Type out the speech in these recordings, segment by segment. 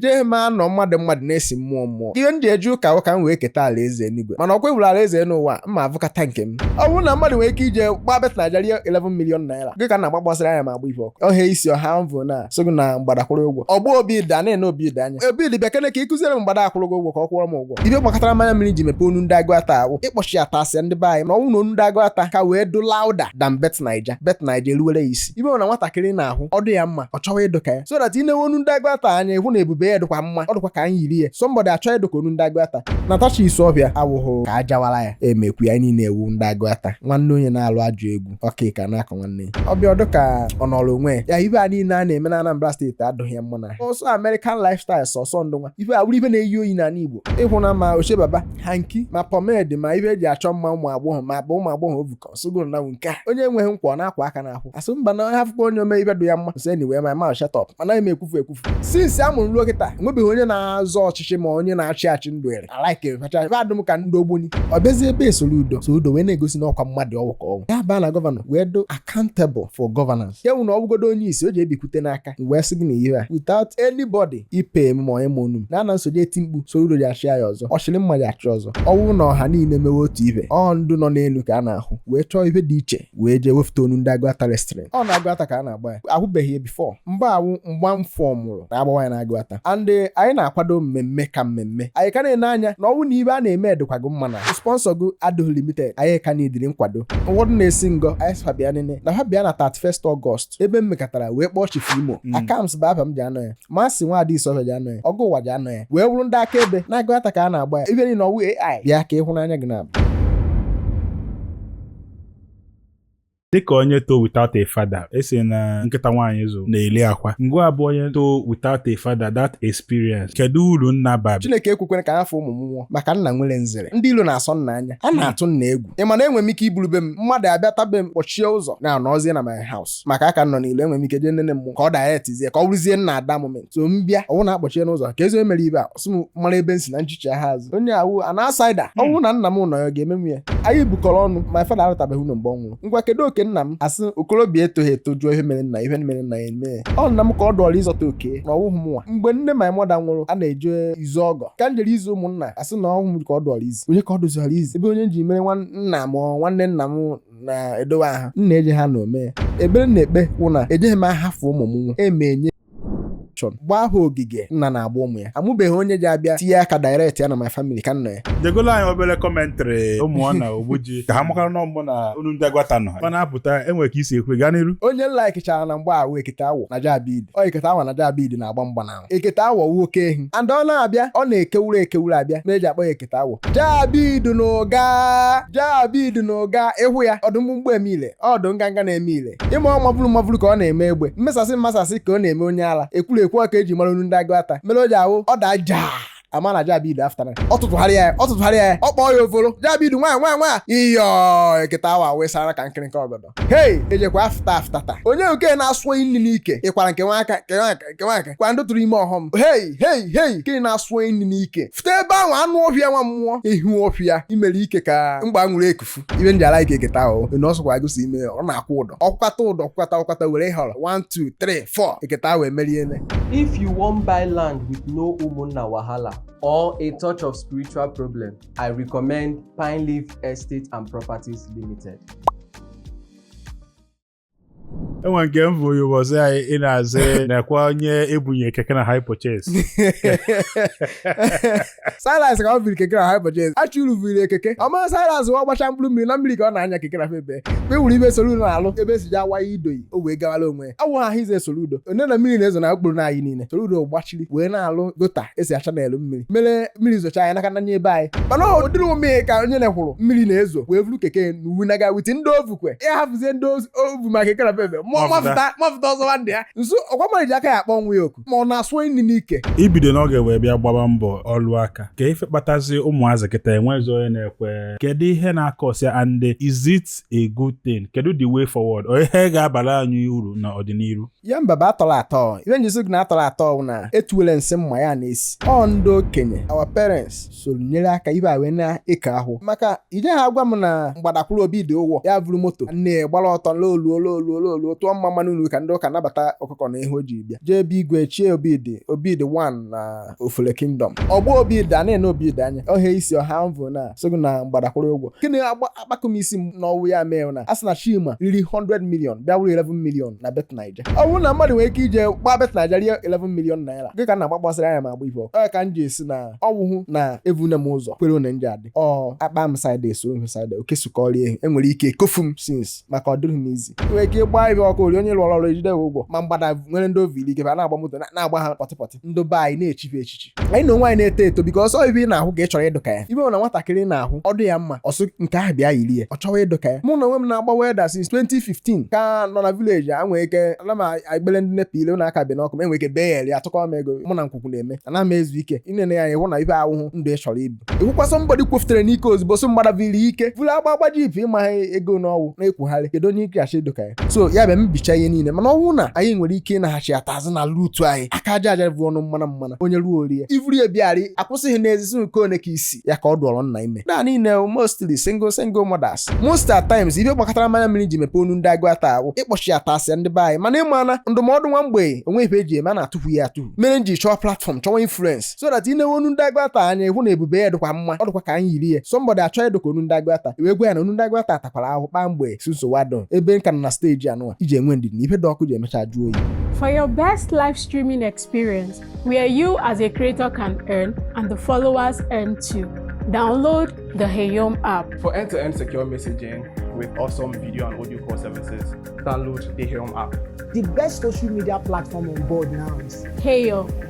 jee ma anọ mmadụ mmadụ na-esi mmụọ mmụọ ihe m ji eje ụka wụ ka m wee keta alaeze enigwe mana ọkwa e wuru alaeze n'ụwa mma avụkata nke m ọ bụrụ na mmadụ nwere ike ije gbaa Bet Naija rie 11 million naira gị ka na-agba gbasara anya ma agba ife ọkụ ọhịa isi ọha mvụ na so gị na mgbada akwụrụ ụgwọ ọgba obi da na-ene obi da anya obi dị bịa kene ka ị kụziere m mgbada akwụrụ gị ụgwọ ka ọ kwụọ m ụgwọ ibe gbakọtara mmanya mmiri ji mepee Onu Ndị Aguata awụ ịkpọchi ya tasịa ndị be anyị na ọ wụ na Onu Ndị Aguata ka wee dụ louder than Bet Naija Bet Naija eruwere ya isi ibe na nwatakịrị na-ahụ ọ dị ya mma ọ chọwa ịdụ ka ya so that i newe Onu Ndị Aguata anya ị hụ na ebube ya dịkwa mma ọ dịkwa ka anyị yiri ya somebody achọ ịdụ ka Onu Ndị Aguata natacha Isuofia awụhụ ka ajawara ya emekwu ya niile ewu ndị Aguata nwanne onye na-alụ ajọ egwu ọkọ iku na-akọ nwanne ya ọ bịa ọ dụ ka ọ nọrọ onwe ya ya ibe a niile a na-eme na Anambra state adụghị ya mma na ọ sọ American lifestyle sọsọ ndụ nwa ife a wụrụ ife na-eyi oyi n'ala Igbo ị hụ na ma ochebaba hanky ma pomade ma ife eji achọ mma ụmụ agbọghọ ma bụ ụmụ agbọghọ ovukọ sogoro na nke a onye enweghị nkwa ọ na-akwa aka n'ahụ asụ mba na afụkwa onye ome ibe dụ ya mma so anyway m ma shut up mana m ekwufu ekwufu since a mụrụ ruo kịta enwebeghị onye na-azọ ọchịchị ma onye na-achị achị ndụ ere alike facha ife adụm ka ndị ogboni ọ bịazie ebe Soludo Soludo wee na-egosi na ọkwa mmadụ ọ wụ ka ọ wụ ya baa na governor wee dụ accountable for governance ya wụ na ọ bụgodo onye isi o ji ebikwute n'aka wee sị gị na ihe a without anybody ị pay m ma onye ma onu m na ana m so eje eti mkpu Soludo ji achị ya ọzọ ọ chịrị mma ya achị ọzọ ọ wụ na ọha niile mewe otu ibe ọ ndụ nọ n'elu ka a na-ahụ wee chọọ ibe dị iche wee jee wefụta Onu Ndị Aguata wrestling ọ na Aguata ka a na-agba ya ahụbeghị ya before mgbe awụ mgba mfọ mụrụ na agbawa ya na Aguata and eh, anyị na-akwado mmemme ka mmemme anyị ka na-ene anya na ọ wụ na ibe a na-eme edịkwago mma na sponsor gụ adịghị limited anyị ka needịrị nkwado ụfọdụ na-esi ngọ anyị sị fa bịa nene na ha bịa na 31 August ebe m mekọtara wee kpọọ Chief Imo Akams bụ afa m ji anọ ya Mazị Nwadị Isuofia ji anọ ya ọgụ ụwa ji anọ ya wee wụrụ ndị akaebe na Aguata ka a na-agba ya ibe niile ọ wụ ai bịa ka ịhụnanya gị na-abụ dịka onye too without a father a sị na nkịta nwaanyị zụ na-eli akwa ngwa abụ onye too without a father that experience kedu uru nna bara Chineke ekwekwene ka m hafụ ụmụ m nwụọ maka nna nwere nzere ndị ilo na-asọ nna anya a na-atụ nna egwu ị ma na enwere m ike iburu be m mmadụ abịata be m kpọchie ụzọ na-anọzie na my house maka aka nọ n'ilo enwere m ike jee nene mmụọ ka ọ dayetizie ka ọ bụrụzie nna at that moment so m bịa ọ wụ na-akpọchie n'ụzọ kezi onye mere ibe a ọ sị m mara ebe m si na m chighaa azụ onye awụ an outsider ọ bụrụ na nna m nọ ya ọ ga-eme m ya anyị bukọrọ ọnụ my father arụtabeghị ụnọ mgbe ọ nwụrụ ngwa kedu oke nna m asị okorobịa etoghị eto jụọ ihe mere nna ihe mere nna ya eme ọ nna m ka ọ dụọrọ ịzọta oke na ọ wụghị m nwa mgbe nne my mother nwụrụ a na-eje izu ọgọ ka m jere izu ụmụnna asị na ọ wụ m ka ọ dụọrọ izu onye ka ọ dụziọrọ izu ebe onye ji mere nna m nwanne nna m na-edowe aha m na-eje ha na ome ekpere na-ekpe wụ na ejeghị m ahafụ ụmụ m nwa emenye option gbaa ha ogige nna na-agba ụmụ ya amụbeghị onye ji abịa tinye aka direct ya na my family ka nna ya jegolo anyị obere commentary ụmụ na ogbuji ka ha makara na ọ mụ na Onu Ndị Aguata nọ ha na-apụta enwere ka isi ekwe gaa n'iru onye m likechara na mgba a wụ Iketa Awọ na Jabid ọ Iketa Awọ na Jabid na-agba mgba na ekete awọ wu oke ehi and ọ na-abịa ọ na-ekewuru ekewuru abịa mere e ji akpọ ya ekete awọ jabid na ụga jabid na ụga ịhụ ya ọdụ mgbumgbu eme ile ọdụ nganga na-eme ile ịma ọ maburu maburu ka ọ na-eme egbe mmesasị mmasasị ka ọ na-eme onye ala ekwuru ekwu ọ ka e ji mara onu ndị Aguata mere o ji awụ ọ daa jaa ama na jabid aftara ọ tụtụgharịa ya ọ tụtụgharịa ya ọ kpọọ ya ofolo jabid nwa nwa nwa iyo ekete awọ wesara ka nkịrịka ọgọdọ hei ejekwa afta afta ta onye nke na-asụ nri n'ike ịkwara nke nwa aka kwa ndị tụrụ ime ọhọm hei hei hei nke na-asụ nri n'ike fụta ebe ahụ anụ ọhịa nwa mmụọ ihu ọhịa imere ike ka mgba nwere eku fu ibe ndị ala ike ekete awọ na ọ sọkwa gosi ime ọ na-akwụ ụdọ ọkwata ụdọ kwata ọkwata were họrọ 1 2 3 4 ekete awọ emeriele if you wan buy land with no ụmụnna wahala or a touch of spiritual problem i recommend pine leaf estate and properties limited enwe nke m bụ ụbọchị anyị ị na-azị nakwa onye ebunye keke na hire purchase silas ka ọ biri keke na hire purchase achụrụ vuru keke ọma silas wa gbacha mkpụrụ mmiri na mmiri ka ọ na-anya keke na febe mgbe wuru ibe Soludo na-alụ ebe esi ji awa ya idoyi o wee gawara onwe ya awụ ahụ ize Soludo onye na mmiri na-ezo na okporo na anyị niile Soludo gbacha kiri wee na-alụ gutter esi acha n'elu mmiri mere mmiri zocha anyị naka nanye ebe anyị mana ọ dịrị m ka onye na-ekwuru mmiri na-ezo wee vuru keke n'uwe naga with ndị o vu kwe ya hafụzie ndị o vu ma keke na febe mafụta ọzọ nwanne ya nso ọkwa mmadụ ji aka ya akpọ nwa ya oku ma ọ na-asụ nri n'ike ibido n'oge wee bịa gbaba mbọ ọlụ aka ka ife kpatazi ụmụazị kịta enwezi onye na-ekwe kedu ihe na-acause ya and is it a good thing kedu the way forward ọ ihe ga-abara anyị uru n'ọdịnihu ya mba bụ atọrọ atọ ibe m ji sị gị na atọrọ atọ bụ na etuwele nsị mma ya na-esi ọ ndị okenye our parents soro nyere aka ibe a wee na-eke ahụ maka ije ha agwa m na mgbada kwụrụ Obidi ụgwọ ya vuru moto nne gbara ọtọ loluo loluo loluo tụọ mmamma n'ụlọ ụka ndị ụka nabata ọkụkọ na ihe o ji bịa jee ebe igwe chie Obidi Obidi 1 na ofele kingdom ọgbọ Obidi a na-ene Obidi anya ọhịa isi ọha mvụ na sogụ na mgbada kwụrụ ụgwọ gịnị akpakọ m isi m n'ọnwụ ya mee na a sị na Chima riri 100 million bịa wuru 11 million na bet naija ọ bụrụ na mmadụ nwere ike ije gbaa bet naija rie 11 million naira gị ka m na-agbagbasara anya m agba ife ọkụ ka m ji esi na ọwụhụ na evune m ụzọ kwere one nje adị ọ akpa m side esoro m side oke sukọrịa ehi enwere ike ekofu m since maka ọ dịrị m easy nwere ike gbaa ife ọkụ ori onye lụrụ ọrụ ejide ụgwọ ma mgbada nwere ndị ovili gebe a na-agba moto na-agba ha pọtịpọtị ndị be anyị na-echife echiche anyị na onwe anyị na-eto eto because ọ ibe ị na-ahụ ka ị chọrọ ịdụ ka ya ibe na nwatakịrị na-ahụ ọ dụ ya mma ọsọ nke ahụ bịa yiri ya ọ chọwa ịdụ ka ya mụ na onwe m na-agba welder since 2015 ka nọ na village a nwere ike ana m agbele ndị nepa ile na-aka bi n'ọkụ m enwere ike bee ya atụkọ m ego mụ na nkwukwu na-eme ana m ezu ike ịnene ya ịhụ na ibe awụhụ ndụ ị chọrọ ibi ịhụkwa somebody kwufutere n'ike ozugbo so mgbada viri ike vụrụ agba agba jeep ịmaghị ego n'ọwụ na-ekwugharị kedu onye ike achị doka ya so ya bịa mbicha ihe niile mana ọ wụ na anyị nwere ike ịnaghachi ata azụ na root anyị aka aja aja bụ ọnụ mmana mmana onye ruo o rie ivuru ya bịarị akwụsịghị n'ezi so nke one ka isi ya ka ọ dụọrọ nna ime na niile mostly single single mothers most at times ife gbakatara m anya mmiri m ji mepee ọnụ ndị Aguata awụ ịkpọchighatasị ndị be anyị mana ị ma na ndụmọdụ nwa mgbei o nweghị ife eji eme a na-atụfu ya atụfu mere m ji chọwa platform chọwa influence so that ị newe ọnụ ndị Aguata anya ị hụ na ebube ya dịkwa mma ọ dịkwa ka anyị yiri ya somebody achọ ịdịka ọnụ ndị Aguata e wee gwa ya na ọnụ ndị Aguata takwara ahụ kpaa mgbe si nsogbu adọ ebe m ka nọ na stage anụwa iji enwe ndidi na ife dị ọkụ ji emecha jụọ oyi For your best live streaming experience, where you as a creator can earn and the followers earn too, download the Heyom app. For end-to-end secure messaging with awesome video and audio call services, download the Heyom app. The best social media platform on board now is Heyom.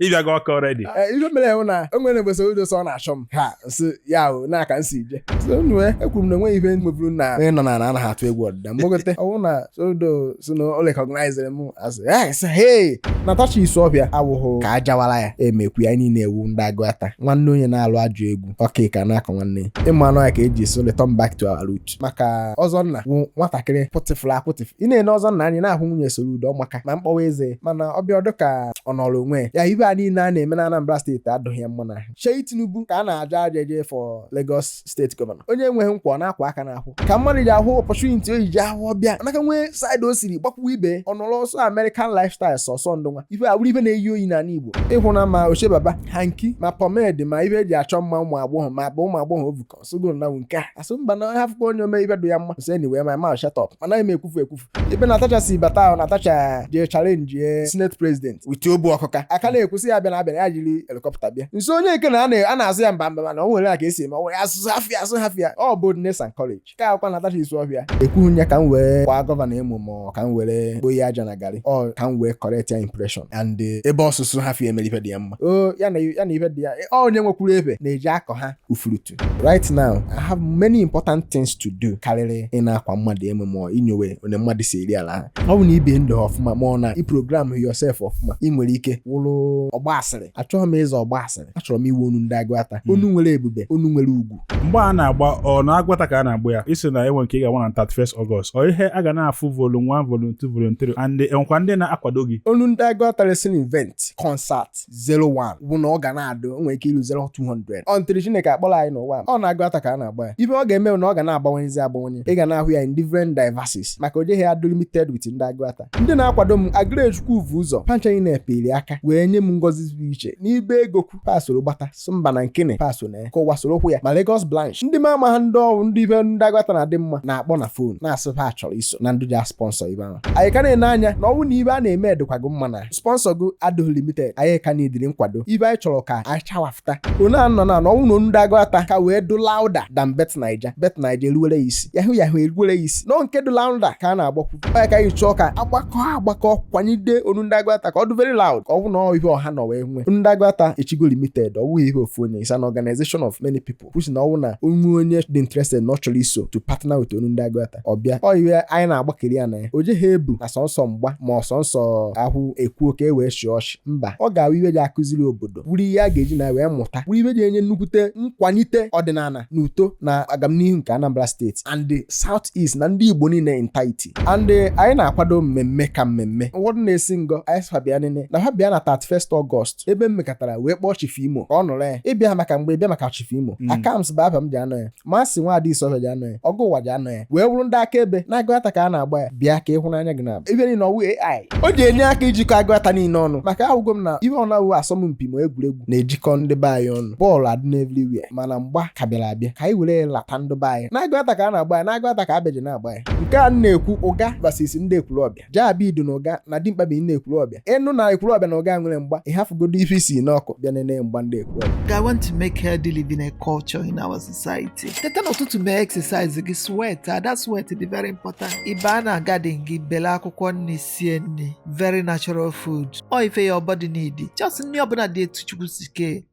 ị bịago Ọka already eh, ife mere ewu na o nwere mgbe Soludo sị ọ na-achọ m ha si ya ahụ na-aka nsi ije sonue ekwuru m na enweghị ife nweburu na onye nọ n'ana anaghị atụ egwu ọdịda mgbagote ọ wụ na Soludo sị na o recognizere m asị yes hey Natasha Isuofia awụghụ ka a jawara ya emekwu ya niile ewu ndị Aguata nwanne onye na-alụ ajụ egwu ọka ka na-akọ nwanne ịmanụ ya ka eji so return back to our root maka Ozonna wụ nwatakịrị pụtịfụrụ apụtịfụ ị na-ene Ozonna anya ị na-ahụ nwunye Soludo ọ maka ma mkpọwa eze mana ọ bịa ọ dụ ka ọ nọrọ onwe ya ife a niile a na-eme na Anambra State adụghị ya mma n'ahụ Seyi Tinubu ka a na-aja aja eje for Lagos State governor onye enweghị nke ọ na-akwa aka n'ahụ ka mmadụ ji ahụ opportunity o ji ahụ ọbịa anaka nwee side o siri gbakwuo ibe ọ nọrọ ọsọ American lifestyle sọsọ ndụ nwa ife awụrụ ife na-eyi oyi n'ala Igbo ịhụ na ma ochebaba hanki ma pomade ma ife eji achọ mma ụmụ agbọghọ ma bụ ụmụ agbọghọ ovukọ ọsụgo na nke a asụ mba na onye afụkwa onye omee ife dụ ya mma so anyway my mouth shut up mana eme ekwufu ekwufu ebe Natasha si bata ahụ Natasha jee challenge ye Senate President with obu ọkụka aka na-ekwusị ya bịa na abịa na ya jiri helicopter bịa nso onye nke na a na- a na-azụ ya mba mba mana o nwere a ka esi eme ọ nwere asụsụ hafịa asụ hafịa ọ boldness and courage ka akwa Natasha Isuofia ekwughị ya ka m wee kwaa governor emo ma ka m were kpoye aja na garị ọ ka m wee correct ya impression and eh, ebe ọsụsụ hafịa emere ife dị ya mma o ya na ya na ife dị ya ọ onye nwekwuru ebe na-eji akọ ha ufurutu right now i have many important things to do karịrị ị na-akwa mmadụ emo ma ọ inyowe onye mmadụ si eri ala ha ọ bụ na ibi ndụ ọfụma ma ọ na i program yourself ọfụma ị nwere ike wụrụ ọgba asịrị achọghị m ịza ọgba asịrị achọrọ m ịwụ ọnụ ndị Aguata hmm. ọnụ nwere ebube ọnụ nwere ugwu mgba a na-agba ọ na Aguata ka a na-agba ya ị sị na e nwe nke ị ga-agba na 31st August ọ ihe a ga na-afụ volume 1 volume 2 volume 3 and enwekwa ndị na-akwado gị ọnụ ndị Aguata wrestling event concert 01 bụ na ọ ga na-adụ o nwere ike ilu 0200 until chineke akpọrọ anyị n'ụwa a, ọ n'Aguata ka a na-agba ya ihe ọ ga-eme bụ na ọ ga na-agbanwenyezi agbanwenye ị ga na-ahụ ya in different diversities maka o jeghị adụ limited with ndị Aguata ndị na-akwado m agrechukwu vu ụzọ panchanyị na-epeli aka wee nye m ngọzi zuru iche n'ihe ego kwu ha soro gbata so mba na nkene ha so na ya ka ụwa soro okwu ya ma Lagos branch ndị ma ama ha ndị ọrụ ndị ihe ndị Aguata na-adị mma na-akpọ na fon na-asị ha chọrọ iso na ndị ja sponsor ihe ahụ anyị ka na-ene anya na ọnwụ na ihe a na-eme dịkwa gị mma na sponsor gị adịghị limited anyị ka needịrị nkwado ihe anyị chọrọ ka anyị chawafụta ọnụ anọ na na ọnwụ na Ọnụ Ndị Aguata ka wee dụ louder than bet naija bet naija eruwere ya isi yahoo yahoo eruwere ya isi nọ nke dụ louder ka a na-agbakwunye ka anyị chọọ ka agbakọ agbakọ kwanyide Ọnụ Ndị Aguata ka ọ dị very loud ka ọ bụ na ọ ihe ọha nọ wee nwee Ọnụ Ndị Aguata echigo limited ọ bụghị ihe ofu onye is an organization of many people which na ọnwụ na o nwee onye dị interested na ọ chọrọ iso to partner with Ọnụ Ndị Aguata ọ bịa ọ ihe anyị na-agbakiri ya na ya o jeghị ebu na sọnsọ mgba ma ọ sọnsọ ahụ ekwuo ka e wee chịa ọchị mba ọ ga-awụ ihe e ji akụziri obodo wuru ihe a ga-eji na wee mụta wuru ihe e ji enye nnukwute nkwalite ọdịnala na uto na agamnihu nke Anambra steeti and the South East na ndị Igbo niile entirety and anyị na-akwado mmemme ka mmemme ụfọdụ na-esi ngọ anyị sị ha bịa nene na ha bịa na 31st Ọgọst ebe m mekatara wee kpọọ Chief Imo ka ọ nọrọ ya ị bịaghị maka mgba ị bịa maka Chief Imo mm. Akams bụ aha m ji anọ ya Masị Nwaada Isuofia ji anọ ya ọgụ ụwa ji anọ ya wee wụrụ ndị akaebe n'Aguata ka a na-agba ya bịa ka ị hụ n'anya gị na ebe niile ọ wụ a o ji enye aka ijikọ Aguata niile ọnụ maka ahụgo m na ihe ọ na-awụ asọmpi ma egwuregwu na-ejikọ ndị be anyị ọnụ bọọlụ adị n'everywhere mana mgba ka bịara abịa ka anyị were lata ndị be anyị n'Aguata ka a na-agba ya n'Aguata ka abeji na-agba ya nke a na-ekwu Uga versus ndị Ekwulọbịa ja-ebido na Uga na dimkpa bi n'Ekwulọbịa. Ị nụ na Ekwulọbịa na Uga nwere mgba, ị hafụgodu ife i si n'ọkụ bịa nene mgba ndị Ekwulọbịa. I want to make healthy living a culture in our society. Teta n'ụtụtụ mee exercise gị sweat that sweat dị very important. Ị baa na garden gị bele akwụkwọ nri sie nri very natural food. Ọ ife your body need. Just nri ọbụla dị etu Chukwu si kee.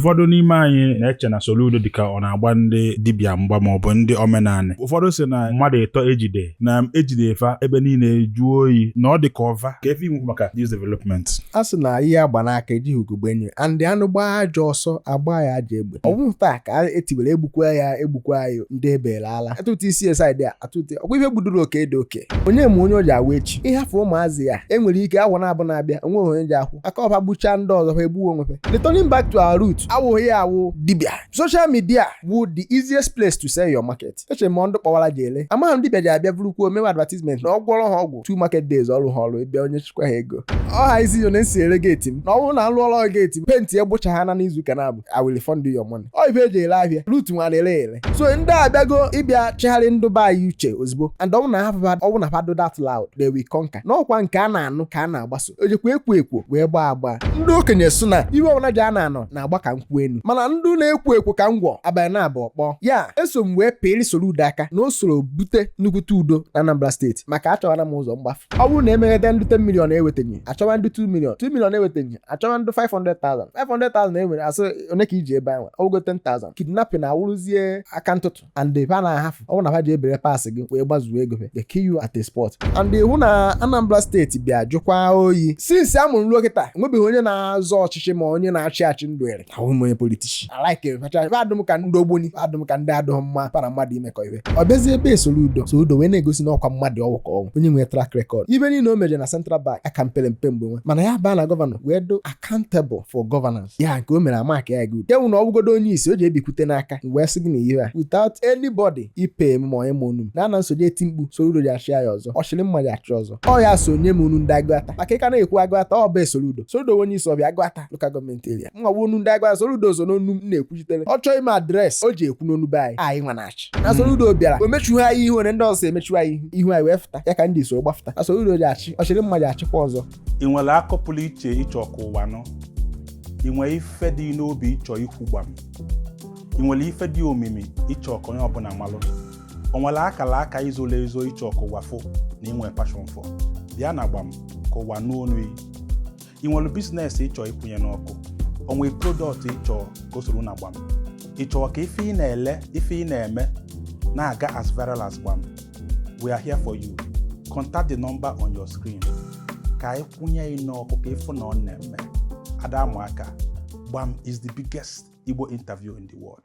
ụfọdụ n'ime anyị na-eche na Soludo dịka ọ na-agba ndị dibịa mgba ma ọ bụ ndị omenanị ụfọdụ sị na mmadụ ịtọ e jide na e jide fa ebe niile jụọ oyi na ọ dị ka ọ fa ka efe inwu maka this development a sị na ihe a gba n'aka ejighị ugogbe ene ya and anụ gbaa ajọ ọsọ a gbaa ya ajọ egbe ọ bụghị taa ka e tiwere egbukwa ya egbukwa ya ndị ebeela ala atụtụ isi esaid a atụte ọ kwa ihe gbudoro oke dị oke onye ma onye ọ ja-awụ echi ị hafụ ụmụazị a e nwere ike afọ naabọ na-abịa o nweghị onye ji akwụ aka ọ ha gbuchaa ndị ọzọ ha egbuo onwe ha returning back to our root awụghị ya awụ dibia social media wụ the easiest place to sell your market eche m ọ ndị kpọwara ji ele amaghị m dibia ji abịa bụrụkwuo mewe advertisement na ọ gwọrọ ha ọgwụ two market days ọ rụọ ha ọrụ ebe onye chịkwa ha ego ọha isi yo na-esi ere geeti m na ọ bụrụ na alụ ọrụ geeti m penti egbucha ha na n'izuụka naabọ I will refund you your money. Ọ ife eji ele ahịa rut nwa na-ele ele so ndị abịago ịbịa chegharị ndụ be anyị uche ozugbo and ọ wụ na hafụ ọ wụ na fa dụ that loud they will conquer n'ọkwa nke a na-anụ ka a na-agbaso ejikwa ekwo ekwo wee gbaa agba ndị okenye sụ na ihe ọbụla ji a na-anọ na-agba ka nkwụ enu mana ndị na-ekwo ekwo ka ngwọ abalị na-abụ ọkpọ ya eso m wee pịrị Soludo aka na o soro bute nnukwute udo na Anambra steeti maka achọghara m ụzọ mgbafu ọ bụrụ na emeghede ndị 10 million ewetanye achọwa ndị 2 million 2 million ewetanye achọwa ndụ 500,000 500,000 e nwere asị onye ka iji ebe anyị nwe ọ wụgo 10,000 kidnapping na-awụrụzie aka ntụtụ and ebe a na-ahafụ ọ bụrụ na ha ji ebere pa asị gị wee gbazuo ego fe they kill you at a spot and ị hụ na Anambra steeti bịa jụkwa oyi since a mụrụ m ruo kịta enwebeghị onye na-azọ ọchịchị ma onye na-achị achị m dụnyere ahụ m onye politician like facha adụ m ka ndị ogboni adụ m ka ndị adụghị mma pa ra mmadụ imekọ ihe ọ bịazie ebe Soludo Soludo wee na-egosi na ọkwa mmadụ ọ wụ ka ọ wụ onye nwere track record ife niile o meje na central bank aka m pere mpe mgbe nwa mana ya baa na gọvanọ wee dụ accountable for governance ya nke o mere amaka ya gị udo enwu na ọ bụgodo onye isi o ji ebikwute n'aka wee sị gị na ihe a without anybody ipe m ma onye ma ọnụ m na ana nsoje eti mkpu Soludo ji achị ya ọzọ ọ chịrị mma ji achị ọzọ ọ ya so nye m ọnụ ndị Aguata maka ịka na-ekwu Aguata ọ bụ Soludo Soludo onye Isuofia Aguata local government area mwa bụ ọnụ ndị Aguata Soludo so n'ọnụ m na-ekwuchitere ọ chọọ ime address o ji ekwu n'ọnụ be anyị anyị nwa na-achị na hmm. Soludo bịara o mechughị anyị ihu onye ndị ọzọ emechughị anyị ihu ihu anyị wee fụta ya ka ndị so gbafụta na Soludo ji achị ọ chịrị mma ji achịkwa ọzọ ị nwere akọ pụrụ iche ị chọ ka ụwa nụ ị nwere ife dị n'obi ị chọ ikwu gbam ị nwere ife dị omimi ị chọ ka onye ọbụla malụ o nwere akara aka i zolo ezo ị chọ ka ụwa fụ na ị nwe passion for bịa na gbam ka ụwa nụ ọnụ ị nwere business ị chọ ịkwụnye n'ọkụ o nwe product ị chọ ka o soro na gbam ị chọọ ka ife ị na-ele ife ị na-eme na-aga as viral as gbam we are here for you contact the number on your screen ka anyị kwụnye ị n'ọkụ ka ị fụ na ọ na-eme ada amụ aka gbam is the biggest Igbo interview in the world